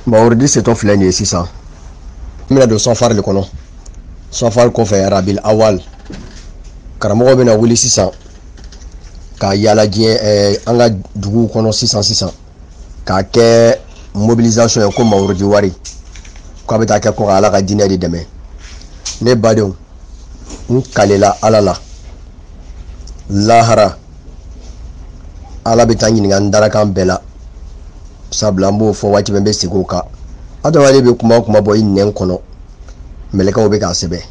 mawuridi setɔ filɛ nin ye sisan n bɛna don safari de kɔnɔ safari kɔfɛ arabil awal karamɔgɔw bɛna wuli sisan ka yaala diɲɛ ɛɛ eh, an ka duguw kɔnɔ sisan sisan k'a kɛ mobilisation ye ko mawurudi wari k'a bɛ taa kɛ ko ka ala ka diinɛ de dɛmɛ ne badenw n kalela ala la lahara ala bɛ taa ɲininka n darakan bɛɛ la sabula an b'o fɔ waati bɛɛ n bɛ segin o kan adamaden bɛ kuma o kuma bɔ i nɛn kɔnɔ mɛlɛkɛw bɛ k'a sɛbɛn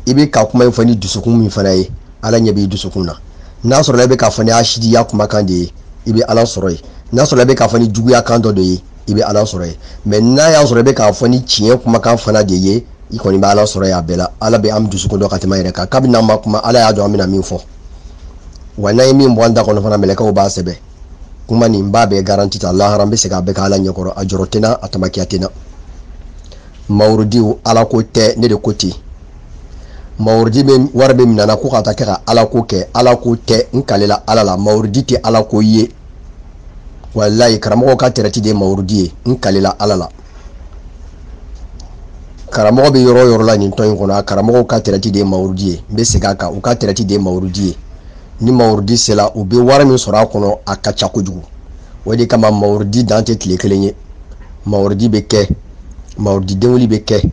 i bɛ ka kuma in fɔ ni dusukun min fana ye ala ɲɛ b'i dusukun na n'a sɔrɔla i bɛ k'a fɔ ni hasidiya kumakan de ye i bɛ ala sɔrɔ yen n'a sɔrɔla i bɛ k'a fɔ ni juguya kan dɔ de ye i bɛ ala sɔrɔ yen mɛ n'a y'a sɔrɔ i bɛ k'a fɔ ni tiɲɛ kumakan fana de ye i kɔni bɛ ala sɔrɔ y'a bɛɛ la ala bɛ an dusukun dɔn ka tɛmɛ an yɛrɛ kan kabini n'an ma kuma ala y'a dɔn an bɛna min fɔ wa n'an ye min bɔ an da kɔnɔ fana mɛlɛkɛw b'a sɛbɛn kuma nin b'a bɛɛ garanti ta lahara an bɛ segin a bɛɛ kan ala ɲɛkɔrɔ a jɔrɔ tɛ n na a tamakiya tɛ n na mawurudi ala ko tɛ ne de ko ten mawurudi bɛ wari bɛ minɛ an na ko ka taa kɛ ka ala ko kɛ ala ko tɛ n kalela ala la mawurudi tɛ ala ko ye walayi karamɔgɔ ka tɛrɛti de ye mawurudi ye n kalela ala la karamɔgɔ bɛ yɔrɔ yɔrɔ la nin tɔn in kɔnɔ a karamɔgɔw ka tɛrɛti de ye mawurudi ye n bɛ segin a kan u ka tɛrɛti de ye mawurudi ye ni mawurudi sera u bɛ wari min sɔrɔ a kɔnɔ a ka ca kojugu o de kama mawurudi dan tɛ tile kelen ye mawurudi bɛ kɛ mawurudi denwuli bɛ kɛ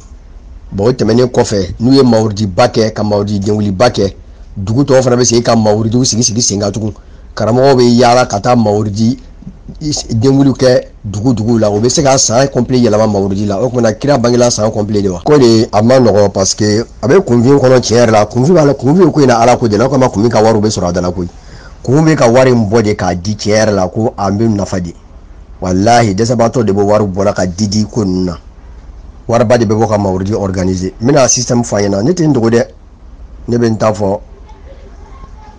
bɔn o tɛmɛnen kɔfɛ n'u ye mawuridiba kɛ ka mawurudi denwuliba kɛ dugu tɔw fana bɛ segin ka mawuridiw sigi sigi sen kan tugun karamɔgɔw bɛ yaala ka taa mawurudi denwuli kɛ dugu dugu la o bɛ se ka san complet yɛlɛma mawurudi la o tumana kira bangela san complet de wa ko di a ma nɔgɔ parce que a bɛ kunfin kɔnɔ tiɲɛ yɛrɛ la kunfin b'a la kunfin ko in na ala ko de la o kama kunfin ka wariw bɛ sɔrɔ a dala koyi k'u bɛ ka wari in bɔ de k'a di tiɲɛ yɛrɛ la ko an bɛ nafa di walahi dɛsɛbaatɔ de bɛ wari bɔra ka di di ko ninnu na wariba de bɛ bɔ ka mawurudi organiser n bɛna système fɔ aw ɲɛna ne tɛ n dogo dɛ ne bɛ n ta fɔ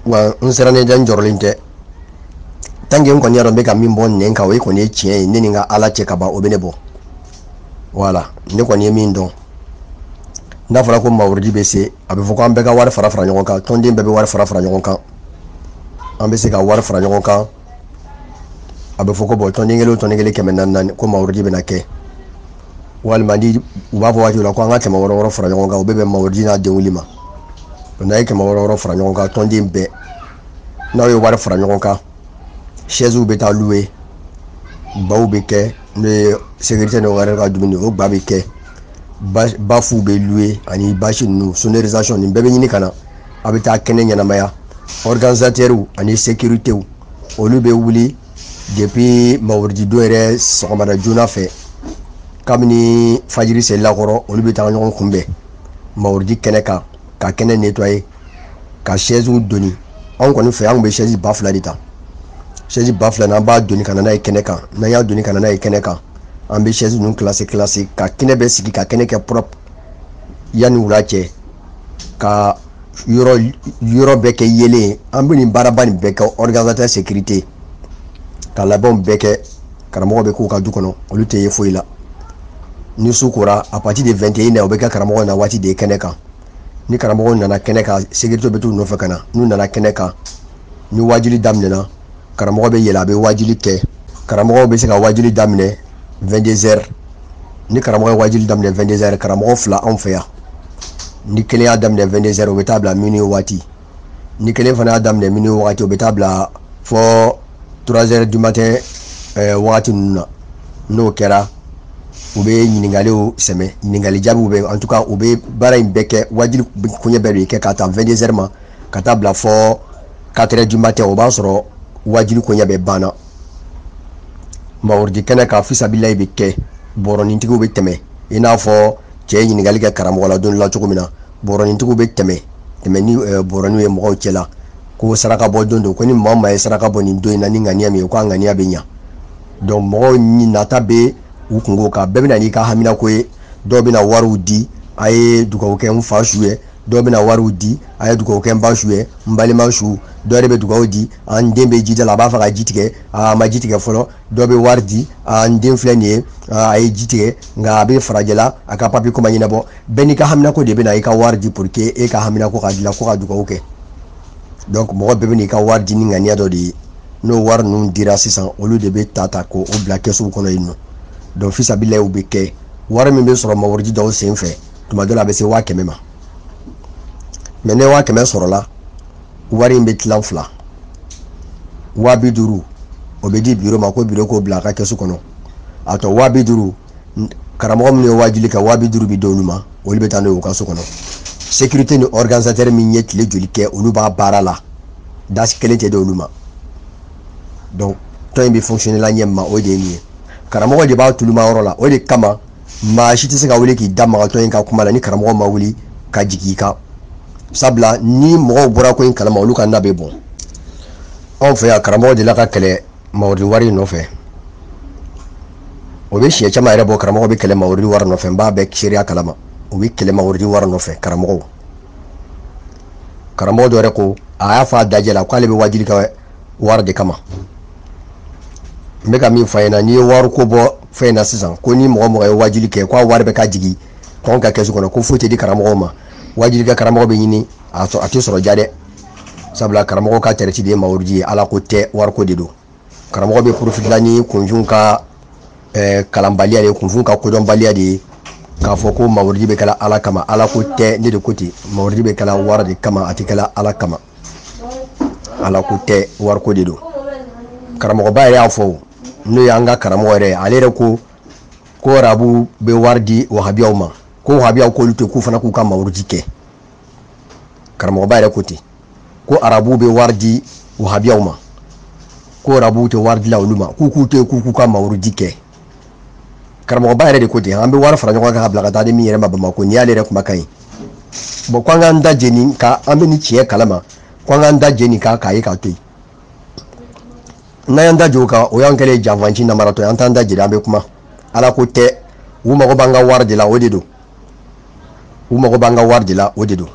wa n sirannen tɛ n jɔrɔlen tɛ tant que n kɔni y'a dɔn n bɛ ka min bɔ n nɛn kan o ye kɔni ye tiɲɛ ye ne ni n ka ala cɛ ka ban o bɛ ne bɔ wa ne kɔni ye min dɔn n'a fɔra ko mawurudi bɛ se a bɛ fɔ ko an bɛɛ ka wari fara fara ɲɔgɔn kan tɔnden bɛɛ bɛ wari fara fara ɲɔgɔn kan an bɛ se ka wari fara ɲɔgɔn kan a bɛ fɔ ko bɔn tɔnden kelen o tɔnden kelen kɛmɛ naani naani ko mawurudi bɛna kɛ walima ni u b'a fɔ waati la ko an ka kɛmɛ wɔɔrɔ wɔɔrɔ fara ɲɔgɔn kan u bɛ bɛn mawurudi n'a denwuli ma n'aw ye kɛmɛ wɔɔrɔ wɔɔrɔ fara ɲɔgɔn kan tɔnden bɛɛ n'aw ye wari fara ɲɔgɔn kan sɛziw bɛ taa luwe baw bɛ kɛ n'o ye sekirite n'o wɛrɛ ka dumuni o ba bɛ kɛ bafuw bɛ luwe ani basi ninnu sonorisation nin bɛɛ bɛ ɲini ka na a bɛ taa kɛnɛ ɲɛnamaya organisatɛriw ani sekiritew olu bɛ wuli depuis mawurudidon yɛrɛ sɔgɔmada joona fɛ kabini fajiri selila kɔrɔ olu bɛ taa ɲɔgɔn kunbɛn mawurudi kɛnɛ kan ka kɛnɛ netwaye ka sɛziw doni anw kɔni fɛ an tun bɛ sɛzi ba fila de ta sɛzi ba fila n'an b'a doni ka na n'a ye kɛnɛ kan n'an y'a doni ka na n'a ye kɛnɛ kan an bɛ sɛzi ninnu kilase kilase ka kɛnɛ bɛɛ sigi ka kɛnɛ kɛ propre yanni wula cɛ ka yɔrɔ yɔrɔ bɛɛ kɛ yeelen an bɛ nin baaraba nin bɛɛ kɛ organisatɛri sekirite ka labɛnw bɛɛ kɛ karamɔgɔw bɛ k'u ka du kɔnɔ olu tɛ ye foyi la ni su kora à partir de 21 heures o bɛ kɛ karamɔgɔ na waati de ye kɛnɛ kan ni karamɔgɔ nana kɛnɛ kan sekiritew bɛ t'u nɔfɛ ka na n'u nana kɛnɛ kan ni waajuli daminɛna karamɔgɔ bɛ yɛlɛn a bɛ waajuli kɛ karamɔgɔw bɛ se ka waajuli daminɛ 22 heures ni karamɔgɔ ye waajuli daminɛ 22 heures karamɔgɔ fila anw fɛ yan ni kelen y'a daminɛ 22 heures o bɛ taa bila minuit waati ni kelen fana y'a daminɛ minuit wagati o bɛ taa bila fɔ 3 heures du matin eh, wagati ninnu na n'o kɛra u bɛ ɲininkaliw sɛmɛ ɲininkali jaabiw bɛ en tout cas u bɛ baara in bɛɛ kɛ waajuli koɲɛ bɛɛ de kɛ k'a ta 22 heures ma ka taa bila fɔ 4 heures du matin o b'a sɔrɔ waajuli koɲɛ bɛɛ banna mawurudi kɛnɛ kan fisabilayi bɛ kɛ bɔrɔnintigiw bɛ tɛmɛ i n'a fɔ cɛ ye ɲininkali kɛ karamɔgɔ la don la cogo min na bɔrɔnintigiw bɛ tɛmɛ tɛmɛ ni eh, bɔrɔninw ye mɔgɔw cɛ la ko saraka bɔ don don ko ni maa maa ye saraka bɔ nin don in na ni ŋaniya min ye ko a ŋaniya bɛ ɲa donc mɔgɔw ni nata bɛ u kunko kan bɛɛ bɛ na n'i ka haminako ye dɔw bɛna wariw di a ye dugawu kɛ n fa su ye dɔw bɛna wariw di a ye dugawu kɛ n ba su ye n balima su dɔ de bɛ dugawu di a n den bɛ ji da la a b'a fɛ ka ji tigɛ a ma ji tigɛ fɔlɔ dɔ bɛ wari di a n den filɛ nin ye a ye ji tigɛ nka a bɛ farajɛla a ka papiyeko ma ɲɛnabɔ bɛɛ n'i ka haminako de bɛ na i ka wari di pour que e ka haminako ka dilan ko ka dugawu kɛ donc mɔgɔ bɛɛ bɛ n'i ka wari di ni ŋaniya dɔ de ye n'o wari ninnu dira sisan olu de bɛ ta ta k'o bila kɛsuw kɔnɔ yen nɔ donc fisabilayi bɛ kɛ wari min bɛ sɔrɔ mawurudi dɔw senfɛ tuma dɔ la a bɛ se waa kɛmɛ ma mais ni waa kɛmɛ sɔrɔla wari in bɛ tilan fila waa bi duuru o bɛ di biro ma ko biro k'o bila a ka kɛsu kɔnɔ a tɔ waa bi duuru karamɔgɔ minnu ye waajuli kɛ waa bi duuru bɛ d'olu ma olu bɛ taa n'o ye u ka so kɔnɔ sécurité ni organisatɛri min ye tile joli kɛ olu b'a baara la dasi kelen tɛ di olu ma donc tɔn in bɛ fonctionner la ɲɛ min ma o de ye nin ye karamɔgɔ de b'a tuluma yɔrɔ la o de kama maa si tɛ se ka wuli k'i da maga tɔn in ka kuma la ni karamɔgɔ ma wuli ka jigin i kan sabula ni mɔgɔw bɔra ko in kalama olu ka na bɛ bɔn anw fɛ yan karamɔgɔ delila ka kɛlɛ mawurudi wari in nɔfɛ o bɛ siɲɛ caman yɛrɛ bɔ karamɔgɔ bɛ kɛlɛ mawurudi wari nɔfɛ n b'a bɛɛ seereya kalama u bɛ kɛlɛ mawurudi wari nɔfɛ karamɔgɔw karamɔgɔ dɔ yɛrɛ ko a y'a fɔ a dajɛ la k'ale bɛ waajuli kɛ wari de kama n bɛ ka min fɔ a ɲɛna n'i ye wariko bɔ fɛn in na sisan ko ni mɔgɔ mɔgɔ ye waajuli kɛ k'a wari bɛɛ ka jigin tɔn ka kɛsu kɔnɔ ko foyi tɛ di karamɔgɔw ma waajuli kɛ karamɔgɔ bɛ ɲini a sɔrɔ a tɛ sɔrɔ ja dɛ sabula karamɔgɔ ka tɛrɛti de ye mawurudi ye ala ko tɛ wariko de don karamɔgɔ bɛ porofitila ni kunfin ka eh, kalanbaliya de ye kunfin ka kodɔnbaliya de ye k'a fɔ ko mawurudi bɛ kɛla ala kama ala ko tɛ ne de ko ten mawurudi bɛ kɛla wari de kama a tɛ kɛla ala kama ala ko tɛ wariko de don karamɔgɔba yɛrɛ y'a fɔ n'o y'an ka karamɔgɔ yɛrɛ ale yɛrɛ ko ko arabu bɛ wari di wahabiyaw ma ko wahabiyaw k'olu to k'u fana k'u ka mawurudi kɛ karamɔgɔba yɛrɛ ko ten ko arabu bɛ wari di wahabiyaw ma ko arabu tɛ wari dila olu ma k'u k'u to k'u k'u ka mawurudi kɛ karamɔgɔba yɛrɛ de ko ten an bɛ wari fara ɲɔgɔn kan k'a bila ka taa di min yɛrɛ ma bamakɔ nin y'ale yɛrɛ kumakan ye bon k'an k'an da je nin kan an bɛ nin tiɲɛ kalama k'an k'an da je nin kan k'a ye k'a to yen n'an y'an da j'o kan o y'an kɛlen ye janfanci namaratɔ ye an t'an da jela an bɛ kuma ala ko tɛ u mago b'an ka wari de la o de don u mago b'an ka wari de la o de don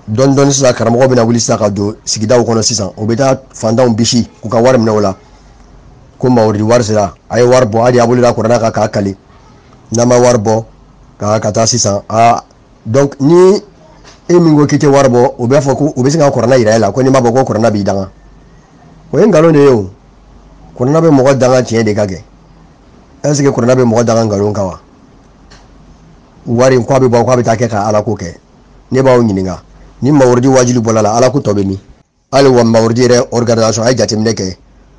dɔɔni dɔɔni sisan karamɔgɔ bɛna wuli sisan ka don sigidaw kɔnɔ sisan o bɛ taa fantanw bisi k'u ka wari minɛ o la ko mawuridi wari sera a ye wari bɔ a de y'a bolo da kuranna kan k'a kali n'a ma wari bɔ ka ka taa sisan a donc ni e min ko k'i tɛ wari bɔ o b'a fɔ ko u bɛ se ka kuranna yira e la ko n'i m'a bɔ ko kuranna b'i danga o ye nkalon de ye o kuranna bɛ mɔgɔ danga tiɲɛ de kan kɛ est ce que kuranna bɛ mɔgɔ danga nkalon kan wa wari k'a bɛ bɔ k'a bɛ taa kɛ ka ala ko kɛ ne b'aw ɲininka ni mawurudi wajibi bɔr'a la ala ko tɔ bɛ min hali wa mawurudi yɛrɛ organisation a ye jateminɛ kɛ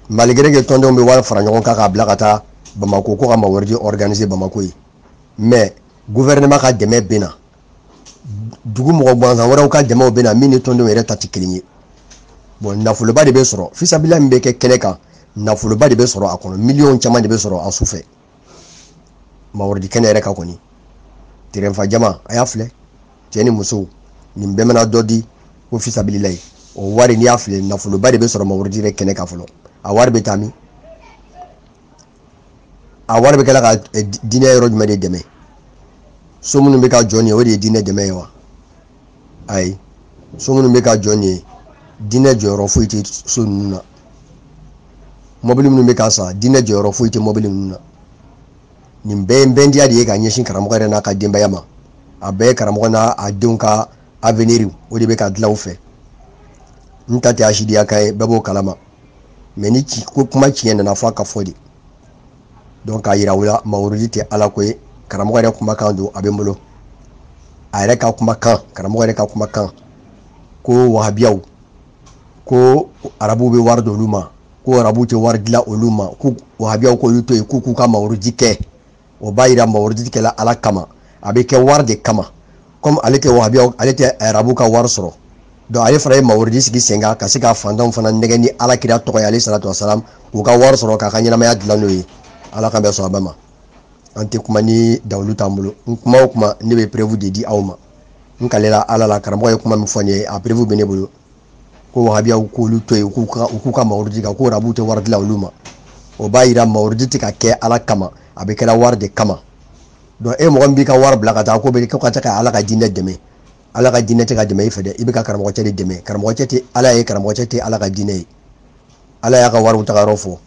malgré que tɔndenw bɛ wari fara ɲɔgɔn kan k'a bila ka taa bamako ko ka mawurudi organiser bamako yen mais gouvernement ka dɛmɛ bɛ na dugu mɔgɔ gansan wɛrɛw ka dɛmɛw bɛ na min ni tɔndenw yɛrɛ ta tɛ kelen ye bon nafoloba de bɛ sɔrɔ fisabila min bɛ kɛ kɛnɛ kan nafoloba de bɛ sɔrɔ a kɔnɔ miliyɔn caman de bɛ sɔrɔ a su fɛ mawurudi kɛnɛ yɛrɛ kan kɔni tɛrɛn fa jama a y'a filɛ cɛ ni muso nin bɛɛ mana dɔ di ko fisabilila ye o wari n'i y'a filɛ nafoloba de bɛ sɔrɔ mawurudi yɛrɛ kɛnɛ kan fɔlɔ a wari bɛ taa min a wari bɛ kɛla ka eh, diinɛ yɔrɔ jumɛn de dɛmɛ so minnu bɛ ka jɔ nin ye o de ye diinɛ dɛmɛ ye wa ayi so minnu bɛ ka jɔ nin ye diinɛ jɔyɔrɔ foyi tɛ so ninnu na mɔbili minnu bɛ ka san diinɛ jɔyɔrɔ foyi tɛ mɔbili ninnu na nin bɛɛ ye bɛndiya de ye ka ɲɛsin karamɔgɔ yɛrɛ n'a ka denbaya ma a bɛɛ ye karamɔgɔ n'a a denw ka avenir o de bɛ ka dilan u fɛ n ta tɛ hasidiya kan ye bɛɛ b'o kalama mais ni ci ko kuma tiɲɛ nana fɔ a ka fɔ dɛ donc k'a yira u la mawurudi tɛ ala ko ye karamɔgɔ yɛrɛ kumakan don a bɛ n bolo a yɛrɛ ka kumakan karamɔgɔ yɛrɛ ka kumakan ko wahabiyaw ko arabuw bɛ wari d'olu ma ko arabuw tɛ wari di la olu ma ko wahabiyaw k'olu to yen k'u k'u ka mawurudi kɛ o b'a yira mawurudi kɛla ala kama a bɛ kɛ wari de kama komi ale tɛ wahabiyaw ale tɛ arabuw ka wari sɔrɔ donc ale fana ye mawurudi sigi sen kan ka se ka fantanw fana nɛgɛ ni ala kira tɔgɔ ye aleyhi salatu wasalam k'u ka wari sɔrɔ k'a ka ɲɛnamaya dilan n'o ye ala k'an bɛɛ sɔn a bɛɛ ma an tɛ kuma ni dalilu t'an bolo n kuma o kuma ne bɛ preuve de di aw ma n kalela ala la karamɔgɔ ye kuma min fɔ n ye a preuve bɛ ne bolo ko wahabiyaw k'olu to yen k'u ka u k'u ka mawurudi kɛ ko arabuw tɛ wari di la olu ma o b'a yira mawurudi tɛ ka kɛ ala kama a bɛ kɛra wari de kama donc e mɔgɔ min b'i ka wari bila ka taa ko bɛ ko ka taa ka ala ka diinɛ dɛmɛ ala ka diinɛ tɛ ka dɛmɛ i fɛ dɛ i bɛ ka karamɔgɔ cɛ de dɛmɛ karamɔgɔ cɛ tɛ ala ye karamɔgɔ cɛ tɛ ala ka diinɛ ye ala y'a ka wariw tagayɔrɔ fɔ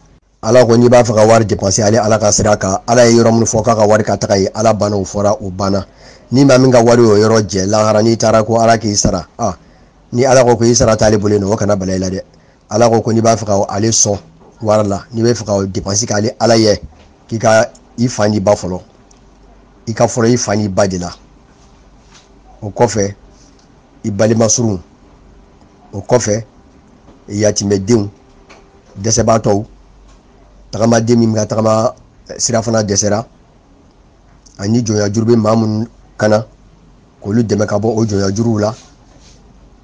ala ko n'i b'a fɛ ka wari depanse ale ala ka sira kan ala ye yɔrɔ minnu fɔ k'a ka wari ka taga yen ala banna o fɔra o banna ni maa min ka wari y'o yɔrɔ jɛ lahara n'i taara ko ala k'i sara a ni ala ko ko i sara t'ale bolo yen nɔ o kana bala i la dɛ ala ko ko n'i b'a fɛ ka ale sɔn wari la n'i b'a fɛ ka depanse kɛ ale ala ye k'i ka i fa n'i ba fɔlɔ i ka fɔlɔ i fa n'i ba de la o kɔfɛ i balima surun o kɔfɛ yatimɛdenw dɛsɛbaatɔw tagamaden min ka tagama eh, sirafana dɛsɛra ani jɔnyajuru bɛ maa minnu kan na k'olu dɛmɛ ka bɔ o jɔnyajuruw la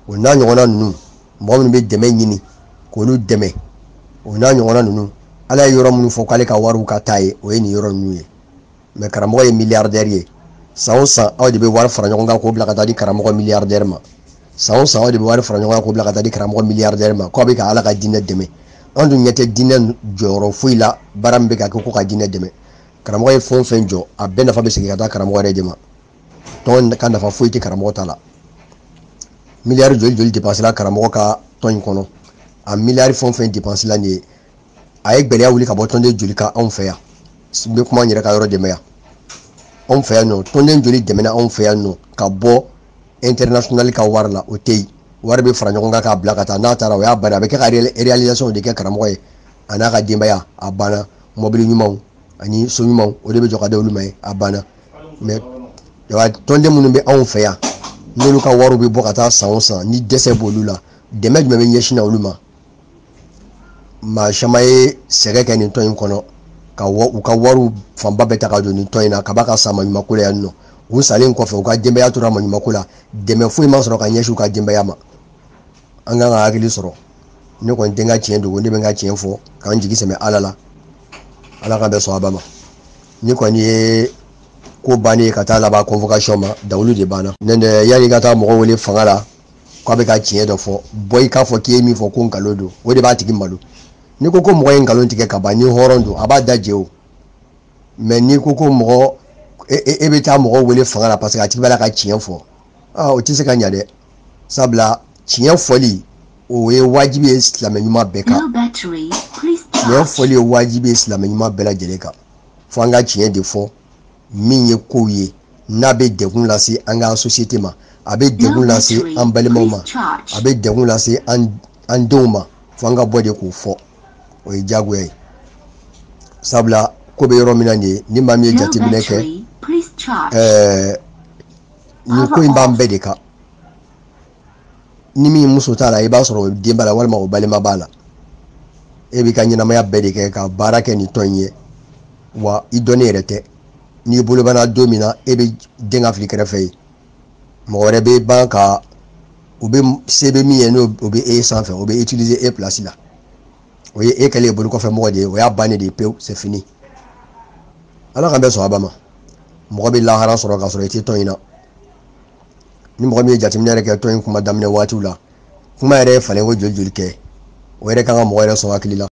o n'a ɲɔgɔnna ninnu mɔgɔ minnu bɛ dɛmɛ ɲini k'olu dɛmɛ o n'a ɲɔgɔnna ninnu ala ye yɔrɔ minnu fɔ k'ale ka wariw ka taa yen o ye nin yɔrɔ ninnu ye mais karamɔgɔ ye miliyardɛri ye san o san aw de bɛ wari fara ɲɔgɔn kan k'o bila ka taa di karamɔgɔ miliyardɛri ma san o san aw de bɛ wari fara ɲɔgɔn kan k'o bila ka taa di karamɔgɔ miliyardɛri ma k'aw bɛ ka ala ka diinɛ dɛmɛ an dun ɲɛ tɛ diinɛ jɔyɔrɔ foyi la baara min bɛ ka kɛ ko ka diinɛ dɛmɛ karamɔgɔ ye fɛn o fɛn jɔ a bɛɛ nafa bɛ segin ka taa karamɔgɔ yɛrɛ de ma tɔn ka nafa foyi tɛ karamɔgɔ ta la miliyari joli joli depansela karamɔgɔ ka tɔn in kɔnɔ a miliyari fɛn o fɛn depansela nin ye a ye gɛlɛya wuli ka bɔ tɔnden joli kan anw fɛ yan n bɛ kuma n yɛrɛ ka yɔrɔ de ma yan anw fɛ yan nɔ tɔnden joli dɛmɛna anw fɛ yan nɔ ka bɔ international ka wari la o tɛ yen wari bɛ fara ɲɔgɔn kan k'a bila ka taa n'a taara o y'a banna a bɛ kɛ ka réalisation de kɛ karamɔgɔ ye a n'a ka denbaya a banna mɔbili ɲumanw ani so ɲumanw o de bɛ jɔ ka d'olu ma yen a banna mais tɔnden minnu bɛ anw fɛ yan n'olu ka wariw bɛ bɔ ka taa san o san ni dɛsɛ b'olu la dɛmɛ jumɛn bɛ ɲɛsin na olu ma maa caman ye sɛgɛn kɛ nin tɔn in kɔnɔ ka u ka wariw fanba bɛɛ ta ka don nin tɔn in na ka ban ka sa maɲumako la yan nɔ u salen kɔfɛ u ka denbaya tora maɲumako la dɛmɛ foyi ma sɔrɔ ka ɲɛsin u ka denbaya ma an kan ka hakili sɔrɔ ne kɔni tɛ n ka tiɲɛ dogo ne bɛ n ka tiɲɛ fɔ k'an jigi sɛmɛ ala la ala ka bɛɛ sɔn a ba ma nin kɔni ye ko bannen ye ka taa laban convocation ma dalilu de banna ne yanni ka taa mɔgɔ wele fanga la k'a bɛ ka tiɲɛ dɔ fɔ bɔ i k'a fɔ k'i ye min fɔ ko nkalon don o de b'a tigi malo n'i ko ko mɔgɔ ye nkalon tigɛ ka ban ni hɔrɔn don a b'a da je o mɛ n'i ko ko mɔgɔ e, e, e bɛ taa mɔgɔ wele fanga la paseke a tigi b'a la ka tiɲɛ fɔ aa o tɛ se ka ɲa dɛ sabula tiɲɛ fɔli o ye wajibi ye silamɛ ɲuman bɛɛ kan tiɲɛ fɔli ye wajibi ye silamɛ ɲuman bɛɛ lajɛlen kan fo an ka tiɲɛ de fɔ min ye kow ye n'a bɛ degun lase an ka sosiyete ma a bɛ degun lase an balimaw ma a bɛ degun lase an denw ma fo an ka bɔ de k'o fɔ o ye diyagoya ye sabula ko bɛ yɔrɔ min na nin ye ni maa min ye jateminɛ kɛ ɛɛ nin ko in b'an bɛɛ de kan ni min muso t'a la i b'a sɔrɔ o den b'a la walima o balima b'a la e b'i ka ɲɛnamaya bɛɛ de kɛ ka baara kɛ ni tɔn in ye wa i dɔnnen yɛrɛ tɛ n'i bolo banna don min na e bɛ den ka fili kɛrɛfɛ yen mɔgɔ wɛrɛ bɛ ban ka u bɛ se bɛ min ye n'o o bɛ e sanfɛ o bɛ utiliser e place la o ye e kɛlen ye bolo kɔfɛ mɔgɔ de ye o y'a bannen de ye pewu c'est fini ala k'an bɛɛ sɔn a ba ma mɔgɔ bɛ lahara sɔrɔ k'a sɔrɔ i tɛ tɔn in na ni mɔgɔ min ye jateminɛ yɛrɛ kɛ tɔn in kuma daminɛ waatiw la kuma yɛrɛ ye falen ko joli joli kɛ o yɛrɛ kan ka mɔgɔ yɛrɛ sɔn hakili la